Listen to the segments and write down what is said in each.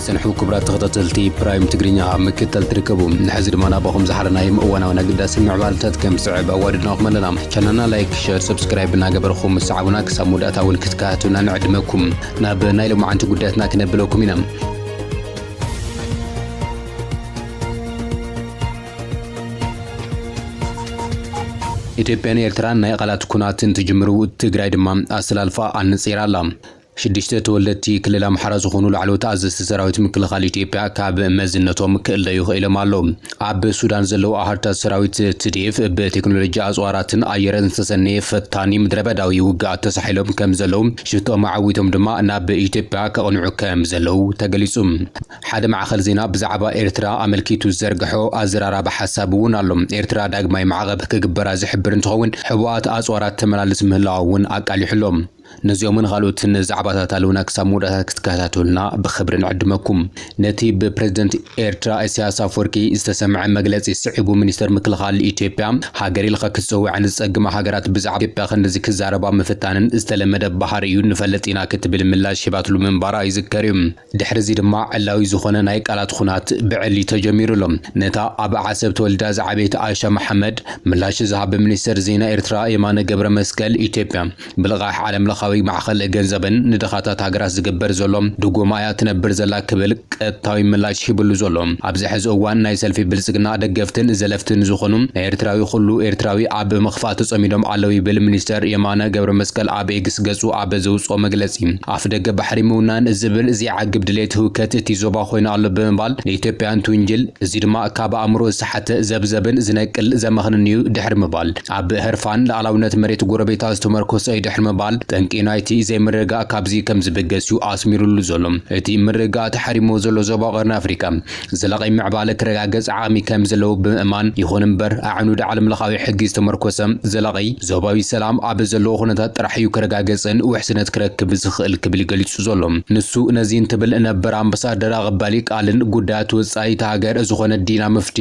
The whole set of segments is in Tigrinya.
ዝጸንሑ ክቡራት ተኸታተልቲ ፕራይም ትግርኛ ኣብ ምክትታል ትርከቡ ንሕዚ ድማ ናባኹም ዝሓለናዮም እዋናውን ኣገዳሲ ምዕባልታት ከም ዝስዕብ ኣዋድድናኹም ኣለና ቻናልና ላይክ ሸር ሰብስክራይብ እናገበርኹም ምሰዓቡና ክሳብ መወዳእታ እውን ክትከታተሉና ንዕድመኩም ናብ ናይ ሎማዓንቲ ጉዳያትና ክነብለኩም ኢና ኢትዮጵያን ኤርትራን ናይ ቃላት ኩናት እንትጅምሩ ትግራይ ድማ ኣሰላልፋ ኣነጺራ ኣላ። ሽዱሽተ ተወለድቲ ክልል ኣምሓራ ዝኾኑ ላዕለዎት ኣዘዝቲ ሰራዊት ምክልኻል ኢትዮጵያ ካብ መዝነቶም ክእለዩ ክኢሎም ኣለው። ኣብ ሱዳን ዘለው ኣሃዱታት ሰራዊት ትዲኤፍ ብቴክኖሎጂ ኣጽዋራትን ኣየርን ዝተሰነየ ፈታኒ ምድረበዳዊ ውግኣት ተሳሒሎም ከምዘለው ሽቶኦም ኣዐዊቶም ድማ ናብ ኢትዮጵያ ከቕንዑ ከምዘለው ተገሊጹ። ሓደ ማዕኸን ዜና ብዛዕባ ኤርትራ ኣመልኪቱ ዝዘርገሖ ኣዘራራቢ ሓሳብ እውን ኣሎ። ኤርትራ ዳግማይ ማዕቐብ ክግበራ ዝሕብር እንትኸውን፣ ሕቡኣት ኣጽዋራት ተመላልስ ምህላዋ እውን ኣቃሊሑ ኣሎ። ነዚኦምን ኻልኦትን ዛዕባታት ኣለውና ክሳብ መወዳእታ ክትከታተሉና ብኽብሪ ንዕድመኩም። ነቲ ብፕረዚደንት ኤርትራ ኢሳያስ ኣፍወርቂ ዝተሰምዐ መግለጺ ስዒቡ ሚኒስተር ምክልኻል ኢትዮጵያ ሃገር ኢልኻ ክትጽውዐን ዝጸግማ ሃገራት ብዛዕባ ኢትዮጵያ ክንድዚ ክዛረባ ምፍታነን ዝተለመደ ባህሪ'ዩ ንፈልጥ ኢና ክትብል ምላሽ ሂባትሉ ምንባራ ይዝከር'ዩ። ድሕሪ'ዚ ድማ ዕላዊ ዝኾነ ናይ ቃላት ኹናት ብዕሊ ተጀሚሩ ኣሎ። ነታ ኣብ ዓሰብ ተወሊዳ ዝዓበየት ኣይሻ መሓመድ ምላሽ ዝሃብ ብሚኒስተር ዜና ኤርትራ የማነ ገብረመስቀል ኢትዮጵያ ብልቓሕ ዓለምለኻዊ ማዕኸን ገንዘብን ንድኻታት ሃገራት ዝግበር ዘሎ ድጎማ እያ ትነብር ዘላ ክብል ቀጥታዊ ምላሽ ሂብሉ ዘሎ ኣብዚ ሕዚ እዋን ናይ ሰልፊ ብልጽግና ደገፍትን ዘለፍትን ዝኾኑ ናይ ኤርትራዊ ኹሉ ኤርትራዊ ኣብ ምኽፋእ ተጸሚዶም ኣለው ይብል ሚኒስተር የማነ ገብረመስቀል ኣብ ኤግስ ገጹ ኣብ ዘውጽኦ መግለጺ። ኣፍደገ ባሕሪ ምውናን ዝብል ዘይዓግብ ድሌት ህውከት እቲ ዞባ ኮይኑ ኣሎ ብምባል ንኢትዮጵያ እንትውንጅል፣ እዚ ድማ ካብ ኣእምሮ ዝሰሓተ ዘብዘብን ዝነቅል ዘመኽንን'ዩ ድሕሪ ምባል፣ ኣብ ህርፋን ልኣላውነት መሬት ጎረቤታ ዝተመርኮሰ'ዩ ድሕሪ ምባል፣ ጠንቂ ናይቲ ዘይምርግጋእ ካብዚ ከምዝብገስ'ዩ ኣስሚርሉ ዘሎ። እቲ ምርግጋእ ተሓሪምዎ ዘሎ ዞባ ቀርኒ ኣፍሪቃ፣ ዘላቒ ምዕባለ ክረጋገጽ ዓቕሚ ከም ዘለዎ ብምእማን፣ ይኹን እምበር ኣዕኑድ ዓለምለኻዊ ሕጊ ዝተመርኮሰ ዘላቒ ዞባዊ ሰላም ኣብ ዘለዎ ኩነታት ጥራሕ እዩ ክረጋገጽን ውሕስነት ክረክብ ዝኽእል ክብል ገሊጹ ዘሎ ንሱ። ነዚ እንትብል ነበር ኣምባሳደር ኣቐባሊ ቃልን ጉዳያት ወጻኢ እታ ሃገር ዝኾነ ዲና ሙፍቲ፣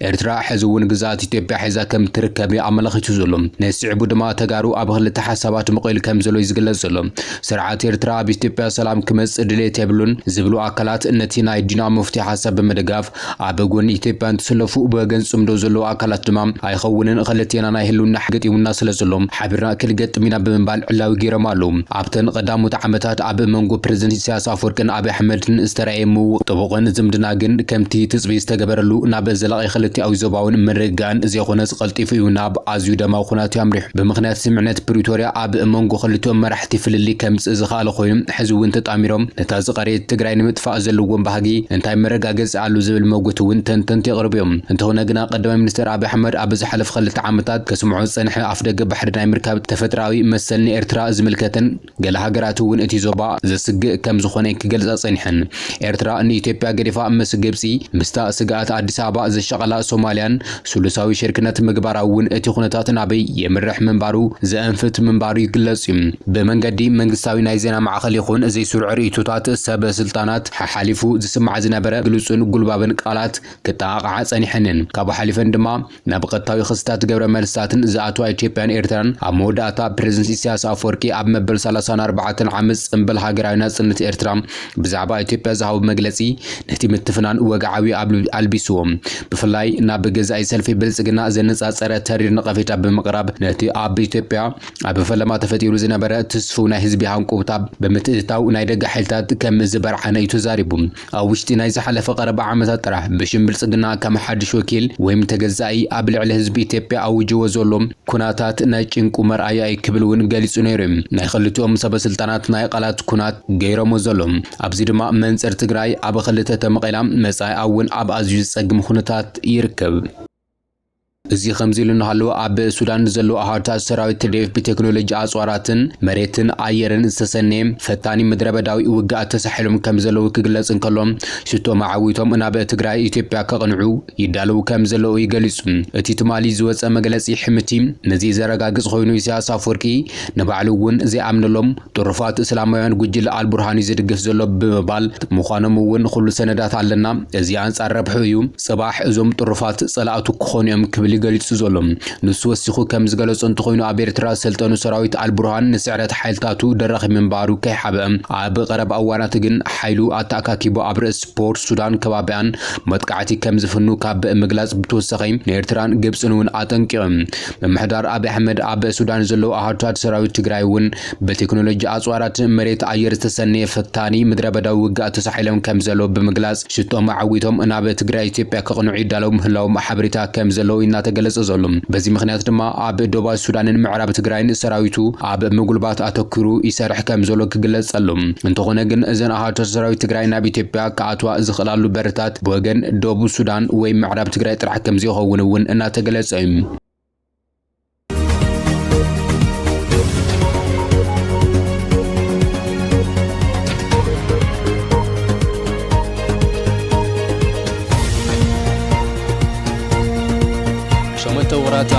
ኤርትራ ሕዚ እውን ግዝኣት ኢትዮጵያ ሒዛ ከም ትርከብ እዩ ኣመላኺቱ ዘሎ። ነዚ ስዒቡ ድማ ተጋሩ ኣብ ክልተ ሓሳባት መቂሉ ከም ዘሎ እዩ ዝግለጽ ዘሎ። ስርዓት ኤርትራ ኣብ ኢትዮጵያ ሰላም ክመጽእ ድሌት የብሉን ዝብሉ ኣካላት ነቲ ናይ ዲና ሙፍቲ ሓሳብ ብምድጋፍ ኣብ ጎኒ ኢትዮጵያ እንትስለፉ ብወገን ጽምዶ ዘለዉ ኣካላት ድማ ኣይኸውንን ክልቴና ናይ ህልውና ሕጊ ገጢሙና ስለ ዘሎ ሓቢርና ክንገጥም ኢና ብምባል ዕላዊ ገይሮም ኣለዉ። ኣብተን ቐዳሞት ዓመታት ኣብ መንጎ ፕረዚደንት ኢሳያስ ኣፍወርቅን ኣብይ ኣሕመድን ዝተራእየ ምውቕ ጥቡቕን ዝምድና ግን ከምቲ ትጽቢት ዝተገበረሉ ናብ ዘላቒ ክልቲኣዊ ዞባውን ምርግጋእን ዘይኾነስ ቐልጢፉ እዩ ናብ ኣዝዩ ደማዊ ኩናት እዩ ኣምሪሑ። ብምኽንያት ስምምዕነት ፕሪቶርያ ኣብ መንጎ ክልቲኦም መራሕቲ ፍልልይ ከምጽእ ዝኸኣለ ኮይኑ ሕዚ'ውን ተጣሚሮም ነታ ዝቐረየት ትግራይ ንምጥፋእ ዘለዎም ባህጊ እንታይ መረጋገጺ ኣሎ ዝብል መጉቲ'ውን ተንተንቲ የቕርቡ እዮም። እንተኾነ ግና ቀዳማይ ሚኒስተር ኣብይ ኣሕመድ ኣብ ዝሓለፉ ክልተ ዓመታት ከስምዖ ዝጸንሐ ኣፍደገ ባሕሪ ናይ ምርካብ ተፈጥሮኣዊ መሰል ንኤርትራ ዝምልከትን ገለ ሃገራት'ውን እቲ ዞባ ዘስግእ ከም ዝኾነ'የን ክገልጻ ጸኒሐን። ኤርትራ ንኢትዮጵያ ገዲፋ ምስ ግብጺ፣ ምስታ ስግኣት ኣዲስ ኣበባ ዘሻቐላ ሶማልያን ስሉሳዊ ሽርክነት ምግባራ'ውን እቲ ኩነታት ናበይ የምርሕ ምንባሩ ዘእንፍት ምንባሩ ይግለጽ'ዩ። ብመንገዲ መንግስታዊ ናይ ዜና ማዕኸን ይኹን ዘይስሩዕ ርእይቶታት ሰብ ስልጣናት ሓሓሊፉ ዝስማዕ ዝነበረ ግሉጽን ጉልባብን ቃላት ክጠቓቕዓ ጸኒሐን'የን። ካብኡ ሓሊፈን ድማ፣ ናብ ቐጥታዊ ክስታት ገብረ መልስታትን ዝኣትዋ ኢትዮጵያን ኤርትራን ኣብ መወዳእታ ፕረዚደንት ኢሳያስ ኣፍወርቂ ኣብ መበል ሰላሳን ኣርባዕተን ዓመት ጽንብል ሃገራዊ ናጽነት ኤርትራ ብዛዕባ ኢትዮጵያ ዝሃቦ መግለጺ ነቲ ምትፍናን ወግዓዊ ኣልቢስዎ ብፍላይ ናብ ገዛኢ ሰልፊ ብልጽግና ዘነጻጸረ ተሪር ነቐፌታ ብምቕራብ ነቲ ኣብ ኢትዮጵያ ኣብ ፈለማ ተፈጢሩ ዝነበረ ትስፉው ናይ ህዝቢ ሃንቆውታ ብምትእትታው ናይ ደገ ሓይልታት ከም ዝበርዓነ እዩ ተዛሪቡ። ኣብ ውሽጢ ናይ ዝሓለፈ ቀረባ ዓመታት ጥራሕ ብሽም ብልጽግና ከም ሓድሽ ወኪል ወይም ተገዛኢ ኣብ ልዕሊ ህዝቢ ኢትዮጵያ ኣዊጅዎ ዘሎ ኩናታት ናይ ጭንቁ መርኣያ እዩ ክብል እውን ገሊጹ ነይሩ እዩ ናይ ኽልቲኦም ሰበስልጣናት ናይ ቃላት ኩናት ገይሮሞ ዘሎ ኣብዚ ድማ መንጽር ትግራይ ኣብ ኽልተ ተመቒላ መጻኢኣ እውን ኣብ ኣዝዩ ዝጸግም ኹነታት ይርከብ። እዚ ከምዚ ኢሉ እናሃለወ ኣብ ሱዳን ንዘለዉ ኣሃዱታት ሰራዊት ትዴፍ ብቴክኖሎጂ ኣጽዋራትን መሬትን ኣየርን ዝተሰነየ ፈታኒ ምድረበዳዊ ውግኣት ተሳሒሎም ከምዘለዉ ክግለጽ እንከሎ ሽቶ መዓዊቶም ናብ ትግራይ ኢትዮጵያ ከቕንዑ ይዳለዉ ከምዘለዉ እዩ ገሊጹ። እቲ ትማሊ ዝወጸ መግለጺ ሕምቲ ነዚ ዘረጋግጽ ኮይኑ ኢሳያስ ኣፍወርቂ ንባዕሉ እውን ዘይኣምነሎም ጥሩፋት እስላማውያን ጉጅለ ኣልቡርሃን እዩ ዝድግፍ ዘሎ ብምባል ምዃኖም እውን ኹሉ ሰነዳት ኣለና፣ እዚ ኣንጻር ረብሕኡ እዩ፣ ጽባሕ እዞም ጥሩፋት ጸላእቱ ክኾኑ እዮም ክብል እዩ ገሊጹ ዘሎ። ንሱ ወሲኹ ከም ዝገለጾ እንተኾይኑ ኣብ ኤርትራ ዝሰልጠኑ ሰራዊት ኣልቡርሃን ንስዕረት ሓይልታቱ ደራኺ ምንባሩ ከይሓብአ ኣብ ቐረባ እዋናት ግን ሓይሉ ኣተኣካኪቡ ኣብ ርእስ ፖርት ሱዳን ከባቢኣን መጥቃዕቲ ከም ዝፍኑ ካብ ምግላጽ ብተወሳኺ ንኤርትራን ግብጽን እውን ኣጠንቂቑ። ምምሕዳር ኣብይ ኣሕመድ ኣብ ሱዳን ዘለዉ ኣሃዱታት ሰራዊት ትግራይ እውን ብቴክኖሎጂ ኣፅዋራት መሬት ኣየር ዝተሰነየ ፈታኒ ምድረበዳዊ ውግኣት ተሳሒሎም ከምዘለዉ ብምግላፅ ሽቶኦም ኣዐዊቶም ናብ ትግራይ ኢትዮጵያ ከቕንዑ ይዳለዉ ምህላዎም ሓበሬታ ከምዘለዎ እዩ እናተገለፀ ዘሎ። በዚ ምኽንያት ድማ ኣብ ዶባት ሱዳንን ምዕራብ ትግራይን ሰራዊቱ ኣብ ምጉልባት ኣተኲሩ ይሰርሕ ከምዘሎ ክግለፅ ጸሎ። እንተኾነ ግን እዘን ኣሃዱታት ሰራዊት ትግራይ ናብ ኢትዮጵያ ክኣትዋ ዝኽእላሉ በርታት ብወገን ደቡብ ሱዳን ወይ ምዕራብ ትግራይ ጥራሕ ከምዘይኸውን እውን እናተገለፀ እዩ።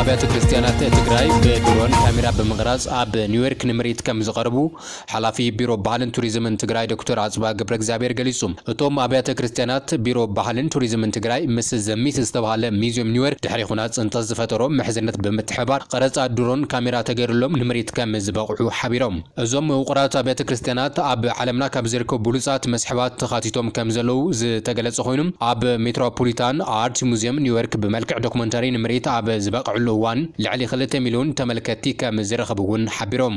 ኣብያተ ክርስቲያናት ትግራይ ብድሮን ካሜራ ብምቕራፅ ኣብ ኒውዮርክ ንምርኢት ከም ዝቐርቡ ሓላፊ ቢሮ ባህልን ቱሪዝምን ትግራይ ዶክተር ኣፅብሃ ገብረእግዚኣብሔር ገሊፁ። እቶም ኣብያተ ክርስትያናት ቢሮ ባህልን ቱሪዝምን ትግራይ ምስ ዘ ሚት ዝተብሃለ ሚዚዩም ኒውዮር ድሕሪ ኹናት ፅንተት ዝፈጠሮ ምሕዝነት ብምትሕብባር ቐረፃ ድሮን ካሜራ ተገይሩሎም ንምርኢት ከም ዝበቕዑ ሓቢሮም። እዞም ውቑራት ኣብያተ ክርስትያናት ኣብ ዓለምና ካብ ዝርከቡ ብሉፃት መስሕባት ተኻቲቶም ከም ዘለዉ ዝተገለፀ ኾይኑ ኣብ ሜትሮፖሊታን ኣርት ሙዚየም ኒውዮርክ ብመልክዕ ዶክመንታሪ ንምርኢት ኣብ ዝበቐዕሉ እዋን ልዕሊ ክልተ ሚሊዮን ተመልከትቲ ከም ዝረኸቡ እውን ሓቢሮም።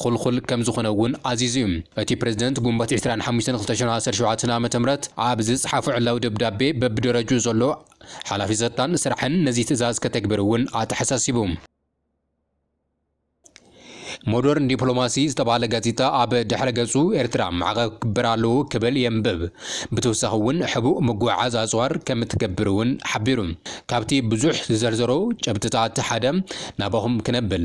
ኹልኹል ከም ዝኾነ እውን ኣዚዙ እዩ። እቲ ፕረዚደንት ግንቦት ዕስራን ሓሙሽተን ክልተ ሽሕ ዓሰርተ ሸውዓተ ዓመተ ምህረት ኣብ ዝጸሓፎ ዕላዊ ደብዳቤ በብደረጅኡ ዘሎ ሓላፊ ጸጥታን ስራሕን ነዚ ትእዛዝ ከተግብር እውን ኣተሓሳሲቡ። ሞደርን ዲፕሎማሲ ዝተባህለ ጋዜጣ ኣብ ድሕረ ገጹ ኤርትራ ማዕቐብ ክግበር ኣለዎ ክብል የንብብ። ብተወሳኺ እውን ሕቡእ ምጉዕዓዝ ኣጽዋር ከም እትገብር እውን ሓቢሩ። ካብቲ ብዙሕ ዝዘርዘሮ ጭብጥታት ሓደ ናባኹም ክነብል።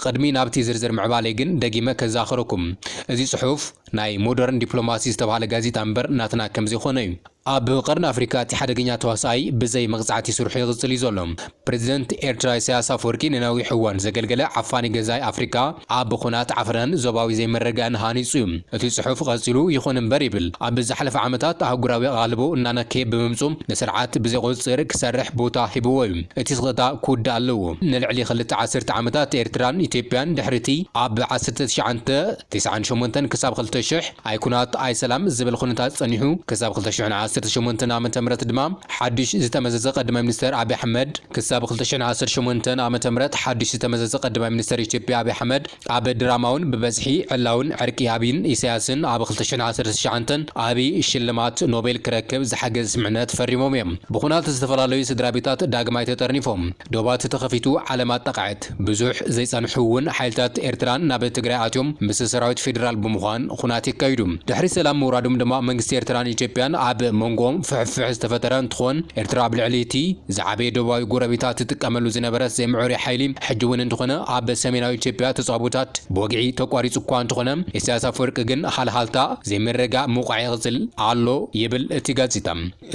ቕድሚ ናብቲ ዝርዝር ምዕባለይ ግን ደጊመ ከዛኽረኩም እዚ ጽሑፍ ናይ ሞደርን ዲፕሎማሲ ዝተባህለ ጋዜጣ እምበር ናትና ከምዘይኮነ'ዩ። ኣብ ቐርኒ ኣፍሪካ እቲ ሓደገኛ ተዋሳኣይ ብዘይ መቕጻዕቲ ስርሑ ይቕጽል እዩ ዘሎ። ፕረዚደንት ኤርትራ ኢሳያስ ኣፍወርቂ ንነዊሕ እዋን ዘገልገለ ዓፋኒ ገዛኢ ኣፍሪካ ኣብ ኹናት ዓፍራን ዞባዊ ዘይምርግጋእን ሃኒጹ እዩ። እቲ ጽሑፍ ቐጺሉ ይኹን እምበር ይብል ኣብ ዝሓለፈ ዓመታት ኣህጉራዊ ኣቓልቦ እናነከየ ብምምጹ ንስርዓት ብዘይቑጽጽር ክሰርሕ ቦታ ሂብዎ እዩ። እቲ ስቕታ ክውዳእ ኣለዎ። ንልዕሊ ክልተ ዓሰርተ ዓመታት ኤርትራን ኢትዮጵያን ድሕሪቲ ኣብ ዓሰርተ ትሽዓንተ ትስዓን ሸሞንተን ክሳብ ክልተ ሽሕ ኣይኩናት ኣይሰላም ዝብል ኩነታት ጸኒሑ ክሳብ ክልተ ሽሕን ዓሰርተ ሸሞንተን ኣመተ ምህረት ድማ ሓዱሽ ዝተመዘዘ ቀድማይ ሚኒስተር ኣቢ ኣሕመድ ክሳብ ክልተ ሽሕን ዓሰርተ ሸሞንተን ኣመተ ምህረት ሓዱሽ ዝተመዘዘ ቀድማይ ሚኒስተር ኢትዮጵያ ኣቢ ኣሕመድ ኣብ ድራማውን ብበዝሒ ዕላውን ዕርቂ ኣብይን ኢሳያስን ኣብ ክልተ ሽሕን ዓሰርተ ትሽዓንተን ኣብይ ሽልማት ኖቤል ክረክብ ዝሓገዘ ስምምዕነት ፈሪሞም እዮም። ብኹናት ዝተፈላለዩ ስድራቤታት ዳግማይ ተጠርኒፎም። ዶባት ተኸፊቱ ዓለም ኣጣቕዐት። ብዙሕ ዘይጸንሑ'ውን ሓይልታት ኤርትራን ናብ ትግራይ ኣትዮም ምስ ሰራዊት ፌደራል ብምዃን ኹናት የካይዱ። ድሕሪ ሰላም ምውራዶም ድማ መንግስቲ ኤርትራን ኢትዮጵያን ኣብ መንጎኦም ፍሕፍሕ ዝተፈጠረ እንትኾን ኤርትራ ኣብ ልዕሊ'ቲ ዝዓበየ ዶባዊ ጎረቤታ ትጥቀመሉ ዝነበረት ዘይምዑሩይ ሓይሊ ሕጂ እውን እንተኾነ ኣብ ሰሜናዊ ኢትዮጵያ ተጻብኦታት ብወግዒ ተቋሪጹ እኳ እንተኾነ፣ ኢሳያስ ኣፈወርቂ ግን ሃልሃልታ ዘይምርግጋእ ምውቃዕ ይቕጽል ኣሎ ይብል እቲ ጋዜጣ።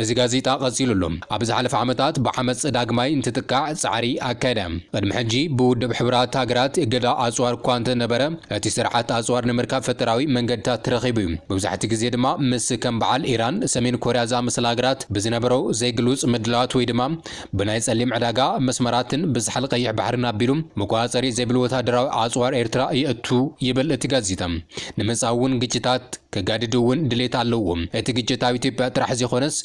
እዚ ጋዜጣ ቀጺሉ ኣሎ፣ ኣብ ዝሓለፈ ዓመታት ብዓመጽ ዳግማይ እንትጥቃዕ ጻዕሪ ኣካየደ። ቅድሚ ሕጂ ብውድብ ሕቡራት ሃገራት እገዳ ኣጽዋር እኳ እንተነበረ፣ እቲ ስርዓት ኣጽዋር ንምርካብ ፈጠራዊ መንገድታት ረኺቡ እዩ። መብዛሕትኡ ግዜ ድማ ምስ ከም በዓል ኢራን፣ ሰሜን ኮርያ ዝኣመሰላ ሃገራት ብዝነበሮ ዘይግሉጽ ምድላዋት ወይ ድማ ብናይ ጸሊም ዕዳጋ መስመራትን ብዛሕል ቀይሕ ባሕርን ኣቢሉ መቆጻጸሪ ዘይብሉ ወተሃደራዊ ኣጽዋር ኤርትራ የእቱ ይብል እቲ ጋዜጣ። ንምጻኡ እውን ግጭታት ከጋድዱ እውን ድሌት ኣለዎም። እቲ ግጭት ኣብ ኢትዮጵያ ጥራሕ ዘይኮነስ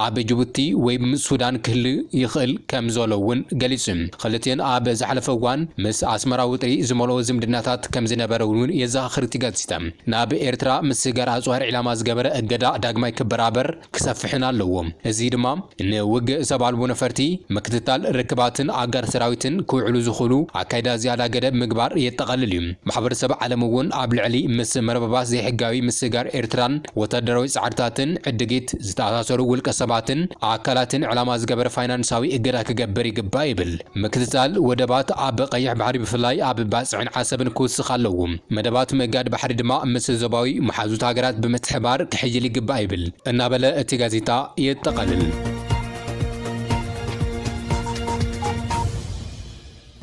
ኣብ ጅቡቲ ወይ ምስ ሱዳን ክህሉ ይኽእል ከም ዘሎ እውን ገሊጹ። ክልቲኤን ኣብ ዝሓለፈ እዋን ምስ ኣስመራ ውጥሪ ዝመልኦ ዝምድናታት ከም ዝነበረን እውን የዘኻኽር እቲ ጋዜጣ። ናብ ኤርትራ ምስግጋር ኣጽዋር ዒላማ ዝገበረ እገዳ ዳግማይ ክበራበር፣ ክሰፍሕን ኣለዎ። እዚ ድማ ንውግእ ሰብ ኣልቦ ነፈርቲ፣ ምክትታል ርክባትን ኣጋር ሰራዊትን ክውዕሉ ዝኽእሉ ኣካይዳ ዝያዳ ገደብ ምግባር የጠቓልል እዩ። ማሕበረሰብ ዓለም እውን ኣብ ልዕሊ ምስ መርበባት ዘይሕጋዊ ምስግጋር ኤርትራን ወታደራዊ ጻዕርታትን ዕድጊት ዝተኣሳሰሩ ውልቀሰባትን ኣካላትን ዕላማ ዝገበረ ፋይናንሳዊ እገዳ ክገብር ይግባእ ይብል። ምክትታል ወደባት ኣብ ቀይሕ ባሕሪ ብፍላይ ኣብ ባጽዕን ዓሰብን ክውስኽ ኣለዎ። መደባት ምእጋድ ባሕሪ ድማ ምስ ዞባዊ መሓዙት ሃገራት ብምትሕብባር ክሕይል ይግባእ ይብል እናበለ እቲ ጋዜጣ የጠቓልል።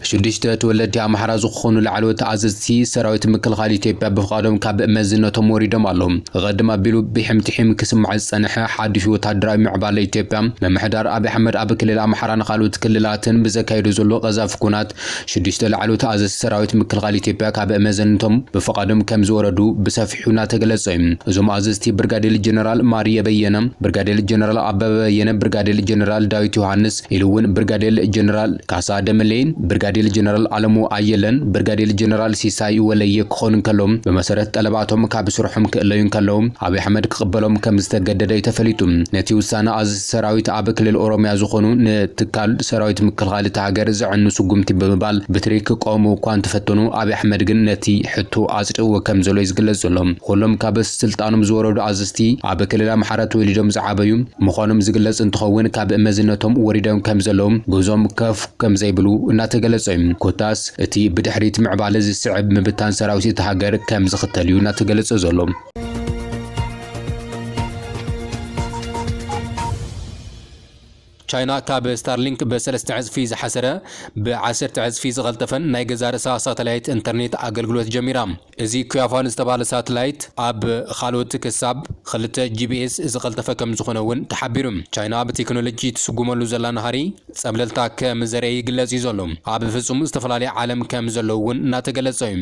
ሽዱሽተ ተወለድቲ ኣምሓራ ዝኾኑ ላዕለዎት ኣዘዝቲ ሰራዊት ምክልኻል ኢትዮጵያ ብፍቓዶም ካብ መዝነቶም ወሪዶም ኣለው። ቐድም ኣቢሉ ብሒም ትሒም ክስማዕ ዝጸንሐ ሓድሽ ወታደራዊ ምዕባለ ኢትዮጵያ፣ ምምሕዳር ኣቢይ ኣሕመድ ኣብ ክልል ኣምሓራን ካልኦት ክልላትን ብዘካይዶ ዘሎ ቀዛፊ ኵናት፣ ሽዱሽተ ላዕለዎት ኣዘዝቲ ሰራዊት ምክልኻል ኢትዮጵያ ካብ መዘንቶም ብፍቓዶም ከም ዝወረዱ ብሰፊሑ እናተገለጸ እዩ። እዞም ኣዘዝቲ ብርጋዴል ጀነራል ማርየ በየነ፣ ብርጋዴል ጀነራል ኣበበ በየነ፣ ብርጋዴል ጀነራል ዳዊት ዮሃንስ፣ ኢሉ እውን ብርጋዴል ጀነራል ካሳ ደመሌን ብርጋዴል ጀነራል ኣለሙ ኣየለን ብርጋዴል ጀነራል ሲሳይ ወለየ ክኾኑ እንከለዉ ብመሰረት ጠለባቶም ካብ ስርሖም ክእለዩ እንከለዉ ኣብይ ኣሕመድ ክቕበሎም ከምዝተገደደ እዩ ተፈሊጡ። ነቲ ውሳነ ኣዘዝቲ ሰራዊት ኣብ ክልል ኦሮሚያ ዝኾኑ ንትካል ሰራዊት ምክልኻል እታ ሃገር ዘዕኑ ስጉምቲ ብምባል ብትሪ ክቋወሙ እኳ እንተፈተኑ ኣብይ ኣሕመድ ግን ነቲ ሕቶ ኣፅዲቕዎ ከምዘሎ እዩ ዝግለፅ ዘሎ። ኹሎም ካብ ስልጣኖም ዝወረዱ ኣዘዝቲ ኣብ ክልል ኣምሓራ ተወሊዶም ዝዓበዩ ምዃኖም ዝግለፅ እንትኸውን ካብ መዝነቶም ወሪዶም ከምዘለዉ ጉዞም ከፍ ከምዘይብሉ እናተገለፀ ዩ። ኮታስ እቲ ብድሕሪት ምዕባለ ዝስዕብ ምብታን ሰራዊት እታ ሃገር ከምዝኽተል ዩ እናተገለፀ ዘሎ። ቻይና ካብ ስታርሊንክ ብሰለስተ ዕፅፊ ዝሓሰረ ብዓሰርተ ዕፅፊ ዝቐልጠፈን ናይ ገዛእ ርእሳ ሳተላይት ኢንተርኔት ኣገልግሎት ጀሚራ። እዚ ኩያፋን ዝተባህለ ሳትላይት ኣብ ኻልኦት ክሳብ ኽልተ ጂቢኤስ ዝቐልጠፈ ከምዝኾነ እውን ተሓቢሩ። ቻይና ብቴክኖሎጂ ትስጉመሉ ዘላ ናህሪ ፀብለልታ ከምዘርእየ ይግለፅ እዩ ዘሎ። ኣብ ፍፁም ዝተፈላለዩ ዓለም ከምዘለዉ እውን እናተገለፀ እዩ።